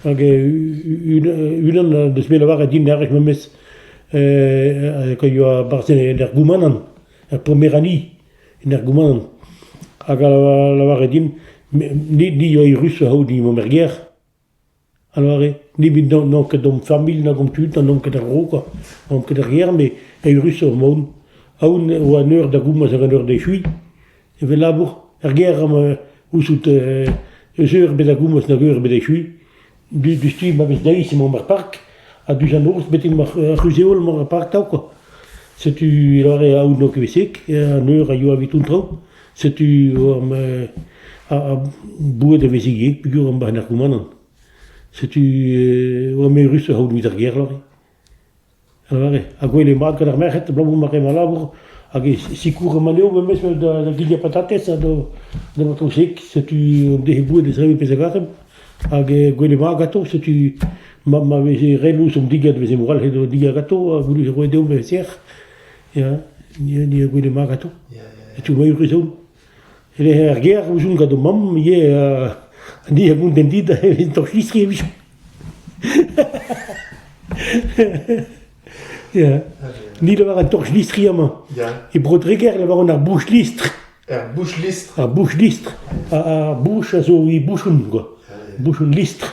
Hag unan deus bet lavaret din ar wech memes que yoa barzh en er goumanant, er pomer anni en er goumanant. Hag a lavaret din ni yoa eürus a-c'houde mont er gêr. A doare, nemet n'on ket d'hom familh nag hom tud ha n'on ket a-raok, n'on ket ar gêr met eürusoc'h mont. Aon e oa an eur da gomz hag an eur d'echuiñ. Evel labour, er gêr emañ ouzout eus eur ebet da gomz nag eur ebet d'echuiñ. Diouzh tu ma vez deiz emaomp er park ha diouzh an norzh betek ma c'huzh-heol emaomp er park atav kwa. Setu a doare aon n'on ket bet sek, an eur a yoa evit an traoù. Setu war ma... ar boued a veze geg peogwir am bahe narkomanant. Setu oa meurusoc'h aodoù evit ar gêr lore. A lâre. Ha gwell eo mat gant ar merc'hed abalamour ma re ma labour hag e sikour ma levr memes da da gilhañ patatez ha da da matrouseg. Setu en defe boued da servir pezh a garem. Hag gwell eo mat ganto. Setu ma ma veze re lous an digad, veze moral he doa digad ganto ha goullet e roe deomp e sec'h. Ya, ya, ya, goude mat gato. Ya, ya, ya. E tu mai ruzo. E le er ger, o joun gado mam, ye, ni a moun den dit, evit to chistri e vichou. Ya, ni le war an torch listri ama. Ya. E brodreger le war an ar bouch listr. Er bouch listr. Ar bouch listr. Ar bouch a zo i bouchon, quoi. Bouchon listr.